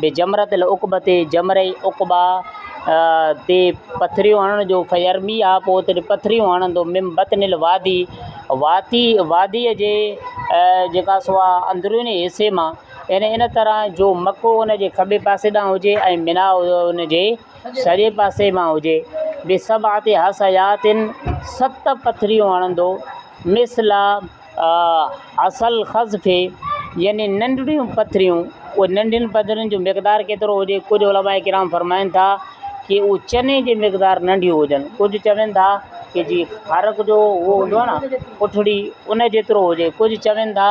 به جمرة العقبة، جمره عقبيٰ، تي پٿريون هڻڻ جو، فيرميها، پوء اتي پٿريون هڻندو، من بطن الوادي، وادي، واديء جي جيڪا سو آهي اندروني حصي مان، يعني ان طرح جو مڪو ان جي کٻي پاسي ڏانهن هجي ۽ منيٰ ان جي سڄي پاسي مان هجي، بسبعة حصيات، ست پٿريون هڻندو، مثل، اصل خض في يعني ننڍڙيون پٿريون اهي ننڍين پٿرين جو مقدار ڪيترو هجي ڪجھ علماء ڪرام فرمائن ٿا ڪي هو چني جي مقدار ننڍيون هجن ڪجھ چون ٿا ڪي جي ڦارڪ جو هو هوندو آهي نا پٺڙي ان جيترو هجي ڪجھ چون ٿا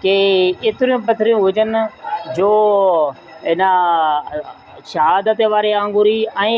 ڪي ايتريون پٿريون هجن جو ان شهادت واري آنگوري ۽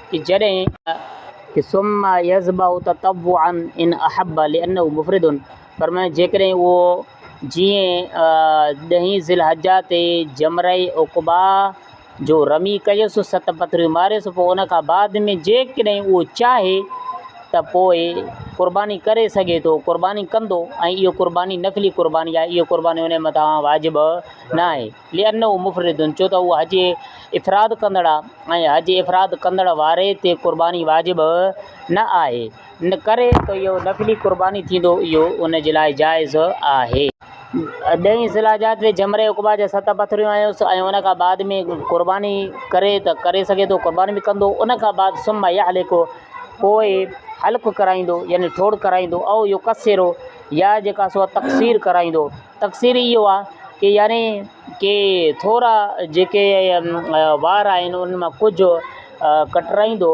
ته جڏهن ته ثم يذبح تطوعا ان احب لانه مفرد فرمايو جيڪڏهن اهو جيئن ڏهين ذي الحجه تي جمره عقبيٰ جو رمي ڪيس ست پٿريون ماريس پوء ان کان بعد ۾ جيڪڏهن اهو چاهي ته پوء قرباني ڪري سگهي ٿو قرباني ڪندو ۽ اهو قرباني نفلي قرباني آهي اهو قرباني ان مٿان واجب ناهي. لانه مفرد ڇو ته اهو حج افراد ڪندڙ آهي ۽ حج افراد ڪندڙ واري تي قرباني واجب نه آهي ان ڪري ته اهو نفلي قرباني ٿيندو اهو ان جي لاء جائز آهي. ڏهين ذي الحجه تي جمره عقبيٰ جا ست پٿريون هنيس ۽ ان کان بعد ۾ قرباني ڪري ته ڪري سگهي ٿو قرباني به ڪندو ان کان بعد ثم يحلق پوء حلق ڪرائيندو يعني ٺوڙهه ڪرائيندو او يقصر يا جيڪا سو تقصير ڪرائيندو. تفسير ئي اهو آهي ته يعني ڪي ٿورا جيڪي وار آهن انهن مان ڪجهه ڪٽرائيندو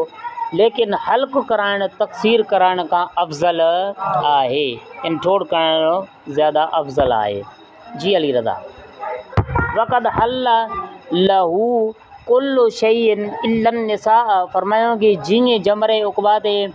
ليڪن حلق ڪرائڻ تقصير ڪرائڻ کان افضل آهي يعني ٺوڙهه ڪرائڻ زياده افضل آهي جي علي رضا وقد حل له ڪل شيء الا النساء فرمايائون ڪي جيئن جمري عقبيٰ تي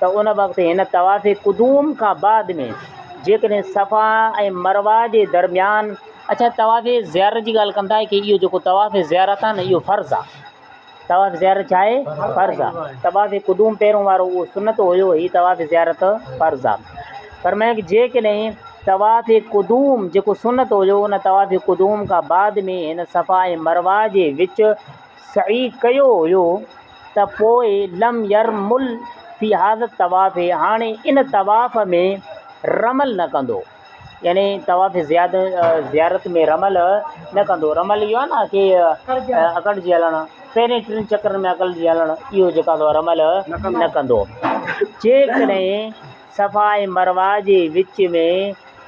ته ان وقت هن طواف قدوم کان بعد ۾ جيڪڏهن صفا ۽ مروه جي درميان اچا طواف زيارت جي ڳالهه ڪندا ڪي اهو جيڪو طواف زيارت آهي نه اهو فرض آهي طواف زيارت ڇا آهي فرض آهي طواف قدوم پهريون وارو اهو سنت هيو هي طواف زيارت فرض آهي فرمائي ڪي جيڪڏهن طواف قدوم جيڪو سنت هيو ان طواف قدوم کان بعد ۾ هن صفا ۽ مروه جي وچ سعي ڪيو هيو ته پوء لم يرمل في هذا الطواف هاڻي ان طواف ۾ رمل نه ڪندو يعني طواف زياد زيارت ۾ رمل نه ڪندو رمل اهو آهي نه ڪي اڪڙجي هلڻ پهرين ٽن چڪرن ۾ اڪڙجي هلڻ اهو جيڪا رمل نه ڪندو جيڪڏهن صفا ۽ مروه جي وچ ۾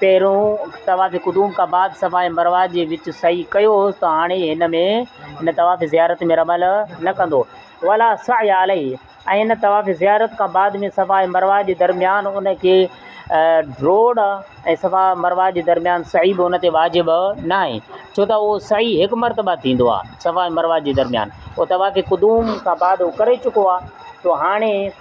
پهريون طواف قدوم کان بعد صفا ۽ مروه جي وچ سعي ڪيو هوس ته هاڻي هن ۾ هن طواف زيارت ۾ رمل نه ڪندو، ولا سعي عليه، ۽ هن طواف زيارت کان بعد ۾ صفا ۽ مروه جي درميان ان کي ڊوڙ ۽ صفا ۽ مروه جي درميان سعي به ان تي واجب ناهي ڇو ته اهو سعي هڪ مرتبه ٿيندو آهي صفا ۽ مروه جي درميان اهو طواف قدوم کان بعد اهو ڪري چڪو آهي تو هاڻي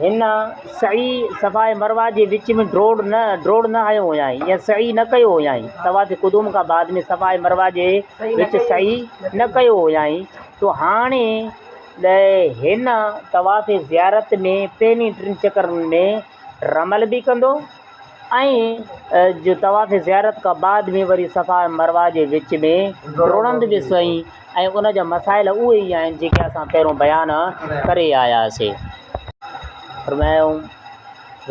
هن سعي صفا ۽ مروه جي وچ ۾ ڊوڙ نه هنيو هيائين يا سعي نه ڪيو هيائين. طواف قدوم کان بعد ۾ صفا ۽ مروه جي وچ سعي نه ڪيو هيائين ته هاڻي هن طواف زيارت ۾ پهرين ٽن چڪرن ۾ رمل به ڪندو ۽ جو طواف زيارت کان بعد ۾ وري صفا ۽ مروه جي وچ ۾ ڊوڙندو به سوئي ۽ ان جا مسائل اهي ئي آهن جيڪي اسان پهريون بيان ڪري آياسي. فرمايائون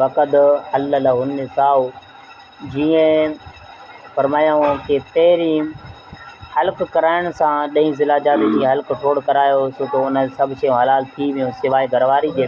وقد حل له النساء جيئن فرمايائون ڪي پهرين حلق ڪرائڻ سان ڏهين ذي الحجه تي جيئن حلق ٺوڙ ڪرايو سو ته ان سڀ شيون حلال ٿي ويون سواء گهرواري جي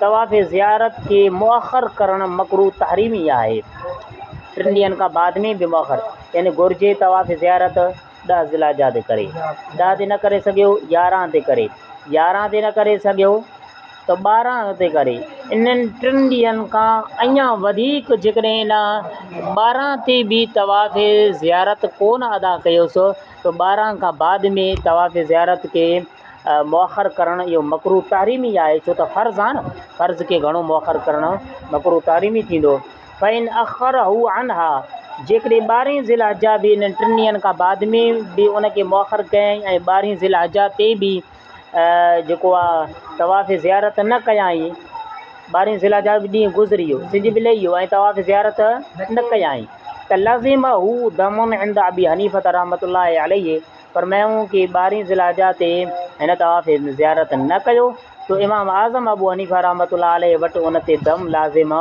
طواف زيارت کي مؤخر ڪرڻ مڪروھ تحريمي آهي، ٽن ڏينهن کان بعد ۾ به مؤخر يعني گهرجي طواف زيارت ڏهه ذوالحجه تي ڪري، ڏهه تي نه ڪري سگهيو يارهن تي ڪري، يارهن تي نه ڪري سگهيو ته ٻارهن تي ڪري، انهن ٽن ڏينهن کان اڃان وڌيڪ جيڪڏهن ان ٻارهن تي به طواف زيارت ڪونه ادا ڪيو سو ته ٻارهن کان بعد ۾ طواف زيارت کي مؤخر ڪرڻ اهو مڪروھ تحريمي آهي ڇو ته فرض آهي نه فرض کي گهڻو مؤخر ڪرڻ مڪروھ تحريمي ٿيندو فان اخره عنها جيڪڏهن ٻارهين ذي الحجه به انهن ٽن ڏينهن کان بعد ۾ به ان کي مؤخر ڪيائين ۽ ٻارهين ذي الحجه تي به جيڪو آهي طواف زيارت نه ڪيائين ٻارهين ذي الحجه جو ڏينهن گذري ويو سج به لهي ويو ۽ طواف زيارت نه ڪيائين ته لازم هو دم عند ابي حنيفه رحمة الله عليه پر مينهون ڪي ٻارهين ذوالحجه تي هن طواف زيارت نه ڪيو ته امام اعظم ابو حنيفه رحمة الله عليه وٽ ان تي دم لازم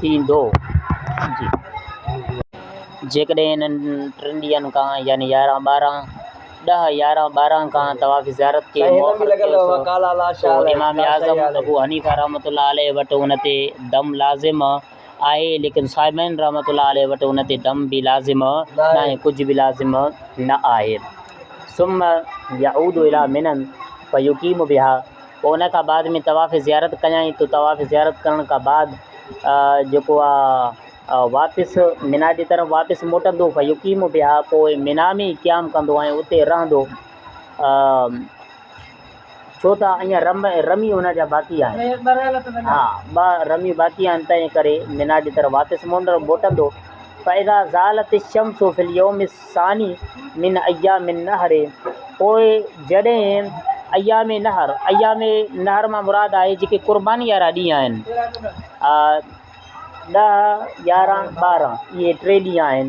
ٿيندو. جيڪڏهن انهن ٽن ڏينهن کان يعني يارهن ٻارهن، ڏهه يارهن ٻارهن کان طواف زيارت کي موخر ڪيوس ته امام اعظم ابو حنيفه رحمة الله عليه وٽ ان تي دم لازم آهي ليڪن صاحبين رحمة الله عليه وٽ ان تي دم به لازم ناهي ڪجهه به لازم نه آهي ثم يعود الى مني فيقيم بها پوء ان کان بعد ۾ طواف زيارت ڪيائين ته طواف زيارت ڪرڻ کان بعد جيڪو آ واپس منا جي طرف واپس موٽندو فيقيم بها پوء منا ۾ قيام ڪندو ۽ اتي رهندو ڇو ته اڃا رم ۽ رمي هن جا باقي آهن. ها، ٻه رميون باقي آهن، تنهن ڪري منا جي طرف واپس موٽندو. فاذا زالت الشمس في اليوم الثاني من ايام النحر پوء جڏهن ايام نحر، ايام نحر مان مراد آهي جيڪي قرباني وارا ڏينهن آهن. ڏهه، يارهن، ٻارهن اهي ٽي ڏينهن آهن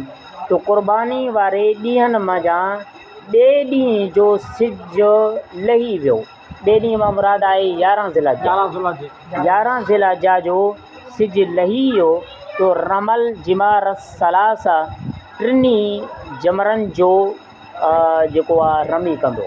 جو قرباني واري ڏينهن منجهان ٻئي ڏينهن جو سج لهي ويو، ٻئي ڏينهن مان مراد آهي يارهن ذي الحجه، يارهن ذي الحجه جو سج لهي ويو جو رمل جمار الثلاثه ٽنهي جمرن جو جيڪو آهي رمي ڪندو.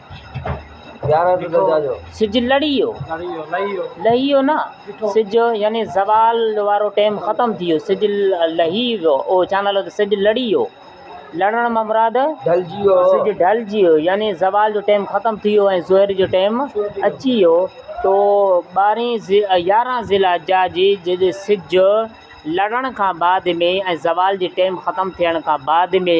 سج لڙيو، لهيو نه، سج يعني زوال وارو ٽيم ختم ٿي ويو سج لهي ويو او ڇا نالو سج لڙي ويو لڙڻ ما مراد ڍلجي ويو سج ڍلجي ويو يعني زوال جو ٽيم ختم ٿي ويو ۽ ظهر جو ٽيم اچي ويو تو ٻارهين يارهن ذي الحجه جي جڏهن سج لڙڻ کان بعد ۾ ۽ زوال جي ٽيم ختم ٿيڻ کان بعد ۾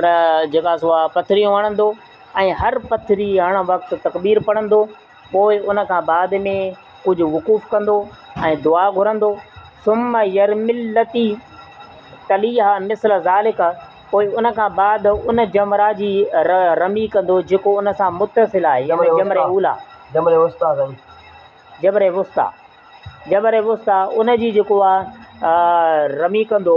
ر جيڪا سو اها پٿريون هڻندو ۽ هر پٿري هڻڻ وقت تڪبير پڙهندو پوء ان کان بعد ۾ ڪجهه وقوف ڪندو ۽ دعا گهرندو ثم يرمي التي تليها مثل ذلك پوء ان کان بعد ان جمره جي ر رمي ڪندو جيڪو ان سان متصل آهي يعني جمره اوليٰ جمره وسطيٰ سائين جمره وسطيٰ جمره وسطيٰ ان جي جيڪو آهي رمي ڪندو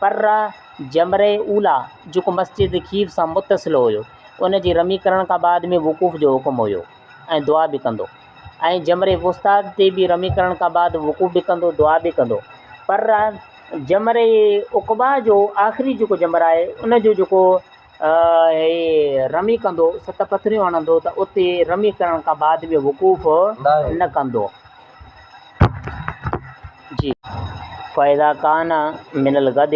پر جمره اولی جيڪو مسجد خيف سان متصل هيو ان جي رمي ڪرڻ کان بعد ۾ وقوف جو حڪم هيو ۽ دعا به ڪندو ۽ جمره وسطيٰ تي به رمي ڪرڻ کان بعد وقوف به ڪندو دعا به ڪندو پر جمره عقبيٰ جو آخري جيڪو جمره آهي ان جو جيڪو هي رمي ڪندو، ست پٿريون هڻندو ته اتي رمي ڪرڻ کان بعد به وقوف نه ڪندو. جي. فاذا ڪان من الغد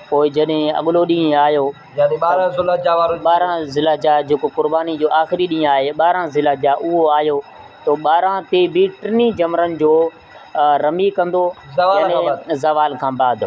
پوء جڏهن اڳلو ڏينهن آيو، يعني ٻارهن ذوالحجه وارو ڏينهن، ٻارهن ذوالحجه جيڪو قرباني جو آخري ڏينهن آهي، ٻارهن ذوالحجه اهو آيو تو ٻارهن تي به ٽنهي جمرن جو رمي ڪندو، يعني زوال کان بعد.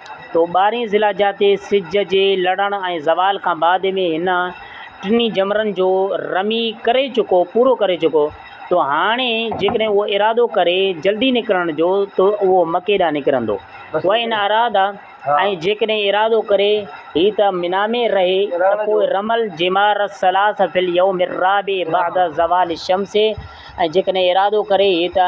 تو ٻارهين ذي الحجه تي سج جي لڙڻ ۽ زوال کان بعد ۾ هن ٽنهي جمرن جو رمي ڪري چڪو، پورو ڪري چڪو، تو هاڻي جيڪڏهن اهو ارادو ڪري جلدي نڪرڻ جو تو اهو مڪي ڏانهن نڪرندو. وان اراد ۽ جيڪڏهن ارادو ڪري هي ته منيٰ ۾ رهي ته پوء رمى الجمار الثلاث في اليوم الرابع بعد زوال الشمس ۽ جيڪڏهن ارادو ڪري هي ته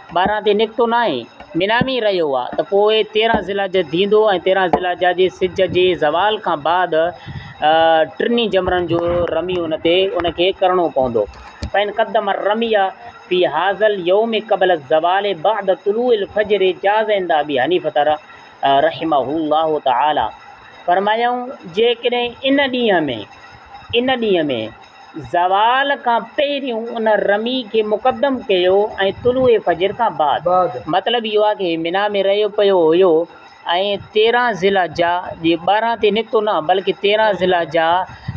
ٻاهران تي نڪتو ناهي، منا ۾ ئي رهيو آهي ته پوء تيرهن ذي الحجه ٿيندو ۽ تيرهن ذي الحجه جي سج جي زوال کان بعد ٽنهي جمرن جو رمي ان تي ان کي ڪرڻو پوندو. فان قدم الرمي في هذا اليوم قبل الزوال بعد طلوع الفجر جاز عند ابي حنيفة رحمه الله تعالي فرمايائون جيڪڏهن ان ڏينهن ۾ ان ڏينهن ۾، زوال کان پهريون ان رمي کي مقدم ڪيو ۽ طلوع فجر کان بعد مطلب اهو آهي هي منيٰ ۾ رهيو پيو هيو ۽ تيرهن ذي الحجه جي ٻارهن تي نڪتو نه بلڪه تيرهن ذي الحجه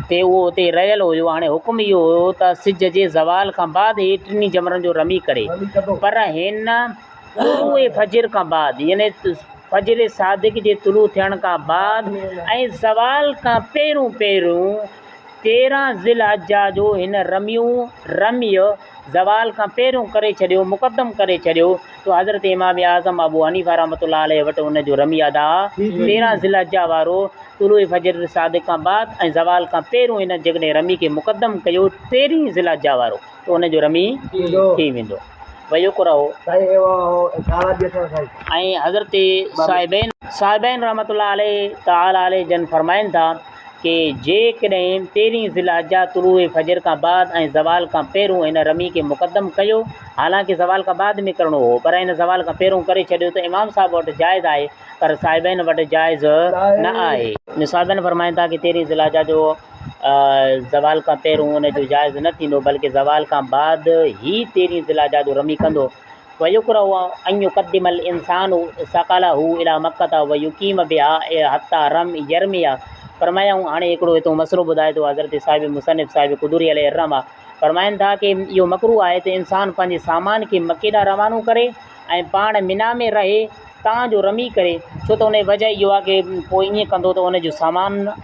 تي اهو اتي رهيل هيو هاڻي حڪم اهو هيو ته سج جي زوال کان بعد هي ٽنهي جمرن جو رمي ڪري پر هن طلوع فجر کان بعد يعني فجر صادق جي طلوع ٿيڻ کان بعد ۽ زوال کان پهرون پهرون تيرهن ذوالحجه جو هن رميون، رميء، زوال کان پهريون ڪري ڇڏيو، مقدم ڪري ڇڏيو، تو حضرت امام اعظم ابو حنيفه رحمة الله عليه وٽ ان جو رمي ادا، تيرهن ذوالحجه وارو، طلوع فجر الصادق کان بعد ۽ زوال کان پهريون هن جيڪڏهن رمي کي مقدم ڪيو، تيرهين ذوالحجه وارو، ته ان جو رمي ٿي ويندو. ويڪره. ۽ حضرت صاحبين، صاحبين رحمة الله تعالٰي عليه جن فرمائن ٿا. ڪي جيڪڏهن تيرهين ذي الحجه، طلوع فجر کان بعد ۽ زوال کان پهرون هن رمي کي مقدم ڪيو، حالانڪ زوال کان بعد ۾ ڪرڻو هو، پر هن زوال کان پهرون ڪري ڇڏيو ته امام صاحب وٽ جائز آهي، پر صاحبين وٽ جائز نه آهي. صاحبين فرمائن ٿا ته تيرهين ذي الحجه جو زوال کان پهرون ان جو جائز نه ٿيندو، بلڪه زوال کان بعد ئي تيرهين ذي الحجه جو رمي ڪندو. ويڪره ان يقدم الانسان ثقله الي مکه ويقيم بها حتي رم يرميها فرمايائون هاڻي هڪڙو هتون مسئلو ٻڌائي ٿو حضرت صاحب مصنف صاحب قدوري عليه الرحمه فرمائن ٿا ڪي اهو مڪروه آهي ته انسان پنهنجي سامان کي مڪي ڏانهن روانو ڪري ۽ پاڻ منيٰ ۾ رهي تان جو رمي ڪري ڇو ته ان جي وجهه اهو آهي ڪي پوء ائين ڪندو ته ان جو سامان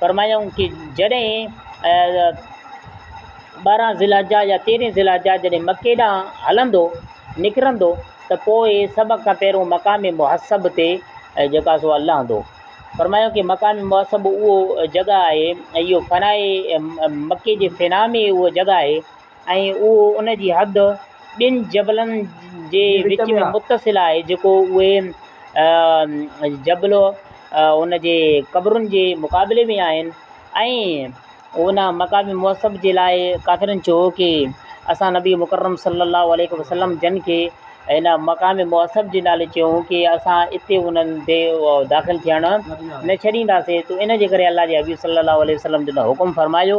فرمايائون ته جڏهن ٻارهن ذي الحجه يا تيرهن ذي الحجه جڏهن مڪي ڏانهن هلندو، نڪرندو، ته پوء سڀ کان پهريون مقام محصب تي جيڪو سو لهندو. فرمايائون ته مقام محصب اهو جڳهه آهي ۽ اهو فنائي مڪي جي فنا ۾ اهو جڳهه آهي. ۽ اهو ان جي حد ٻن جبلن جي وچ ۾ متصل آهي جيڪو اهي جبل ان جي قبرن جي مقابلي ۾ آهن ۽ ان مقام موصف جي لاء ڪافرن چيو هو ڪي اسان نبي مڪرم صلي الله عليه وسلم جن کي ان مقام موصف جي نالي چيو هو ڪي اسان اتي انهن تي داخل ٿيڻ نه ڇڏينداسين ته ان جي ڪري الله جي حبيب صلي الله عليه وسلم جن حڪم فرمايو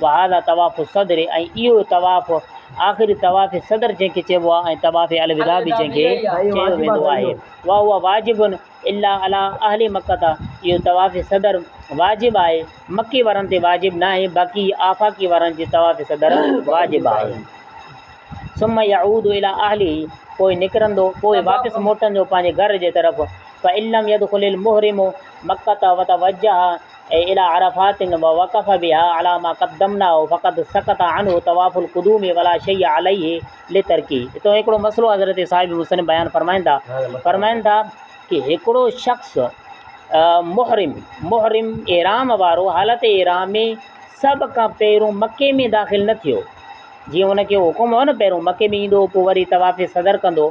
وهذا طواف الصدر ۽ اهو طواف آخري طواف صدر جنهن کي چئبو آهي ۽ طواف الوداع به جنهن کي چيو ويندو آهي وهو واجب الا علي اهل مڪة اهو طواف صدر واجب آهي مڪي وارن تي واجب ناهي باقي آفاقي وارن جي طواف صدر واجب آهي ثم يعود الى اهله پوء نڪرندو پوء واپس موٽندو پنهنجي گهر جي طرف فعلم يدخل المحرم مڪه وتوجه اي الى عرفات ووقف بها علي ما قدمناه فقد سقط عنه طواف القدوم ولا شيء عليه لترڪه اتو هڪڙو مسئلو حضرت صاحب مسلم بيان فرمائن ٿا فرمائن ٿا ڪي هڪڙو شخص محرم محرم احرام وارو حالت احرام ۾ سڀ کان پهرون مڪي ۾ داخل نه ٿيو جيئن ان کي حڪم هو نه پهرون مڪي ۾ ايندو پوء وري طواف صدر ڪندو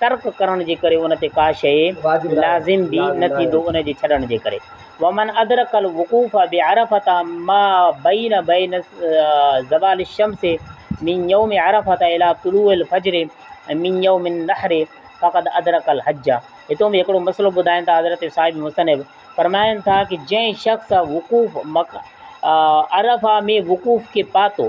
ترڪ ڪرڻ جي ڪري ان تي ڪا شيء لازم به نه ٿيندو ان جي ڇڏڻ جي ڪري ومن ادرڪ الوقوف بعرفة ما بين بين زوال الشمس من يوم عرفة الى طلوع الفجر من يوم النحر فقد ادرڪ الحج هتون به هڪڙو مسئلو ٻڌائين ٿا حضرت صاحب مصنف فرمائن ٿا ڪه جنهن شخص وقوف مڪ عرفة ۾ وقوف کي پاتو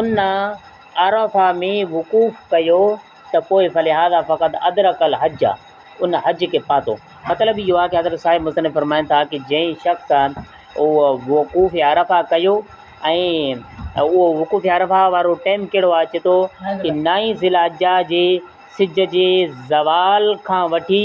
ان عرفه ۾ وقوف ڪيو ته پوء فلهذا فقد ادرڪ الحج ان حج کي پاتو. مطلب اهو آهي ته حضرت صاحب مصنف فرمائن ٿا ته جنهن شخص اهو وقوف عرفه ڪيو ۽ اهو وقوف عرفه وارو ٽيم ڪهڙو آهي؟ چئي ٿو ته نائين ذي الحجه جي سج جي زوال کان وٺي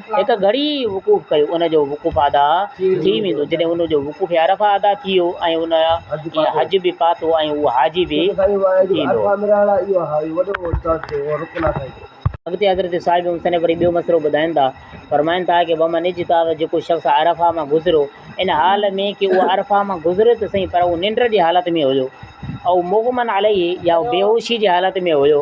هڪ گهڙي ئي وقوف ڪيو، ان جو وقوف ادا ٿي ويندو، جڏهن ان جو وقوف عرفه ادا ٿي ويو ۽ ان حج به پاتو ۽ هو حاجي به ٿيندو. اڳتي حضرت صاحب مصنف وري ٻيو مسئلو ٻڌائين ٿا، فرمائن ٿا ڪه ومن اجتاز جيڪو شخص عرفه مان گذريو، ان حال ۾ ڪه اهو عرفه مان گذريو ته سهي پر اهو ننڊ جي حالت ۾ هيو، او مغمن عليه يا اهو بيهوشي جي حالت ۾ هيو،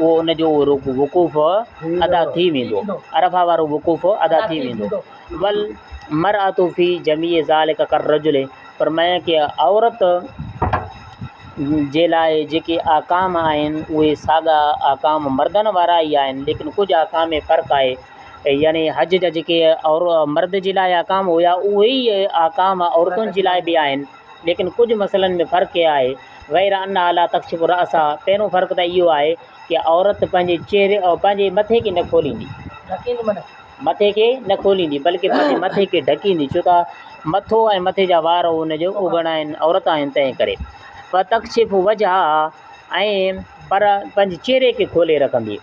اهو ان جو اهو رڪوع وقوف ادا ٿي ويندو، عرفه وارو وقوف ادا ٿي ويندو، والمرأة في جميع ذلک کالرجل فرمايائين ڪي عورت جي لاء جيڪي احڪام آهن اهي ساڳا احڪام مردن وارا ئي آهن ليڪن ڪجهه احڪام ۾ فرق آهي يعني حج جا جيڪي عور مرد جي لاء احڪام هيا اهي ئي احڪام عورتن جي لاء به آهن ليڪن ڪجهه مسئلن ۾ فرق اهي آهي غير انها لا تڪشف راسها پهريون فرق ته اهو آهي ته عورت پنهنجي چهري ۽ پنهنجي مٿي کي نه کوليندي مٿي کي نه کوليندي بلڪه پنهنجي مٿي کي ڍڪيندي ڇو ته مٿو ۽ مٿي جا وار ان جو اوگڻ آهن عورت آهن تنهن ڪري وتڪشف وجهها ۽ پر پنهنجي چهري کي کولي رکندي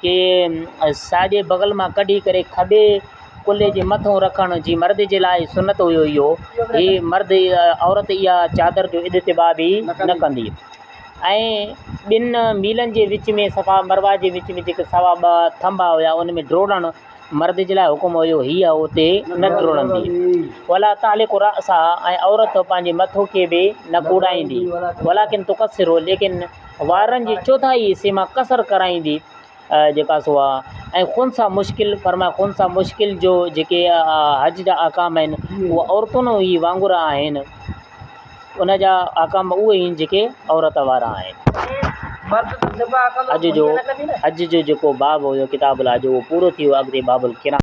کي ساڄي بغل مان ڪڍي ڪري کٻي ڪلهي جي مٿو رکڻ جي مرد جي لاء سنت هيو اهو هي مرد عورت اها چادر جو اجتباع به نه ڪندي ۽ ٻن ميلن جي وچ ۾ صفا مروا جي وچ ۾ جيڪي سوا ٻ ٿنڀا هيا ان ۾ ڊوڙڻ مرد جي لاء حڪم هيو هي اتي نه ڊوڙندي ولا تعلق راسا ۽ عورت پنهنجي مٿو کي به نه ڪوڙائيندي ولا ڪن تقصر هو ليڪن وارن جي چوٿائي حصي مان قصر ڪرائيندي جيڪا سو آ ۽ خن سا مشڪل فرماء خن سا مشڪل جو جيڪي حج جا احڪام آهن اهو عورتن هي وانگر آهن ان جا احڪام اهي آهن جيڪي عورت وارا آهن حج جو حج جو جيڪو باب هيو ڪتاب الحج اهو پورو ٿي ويو اڳتي باب القران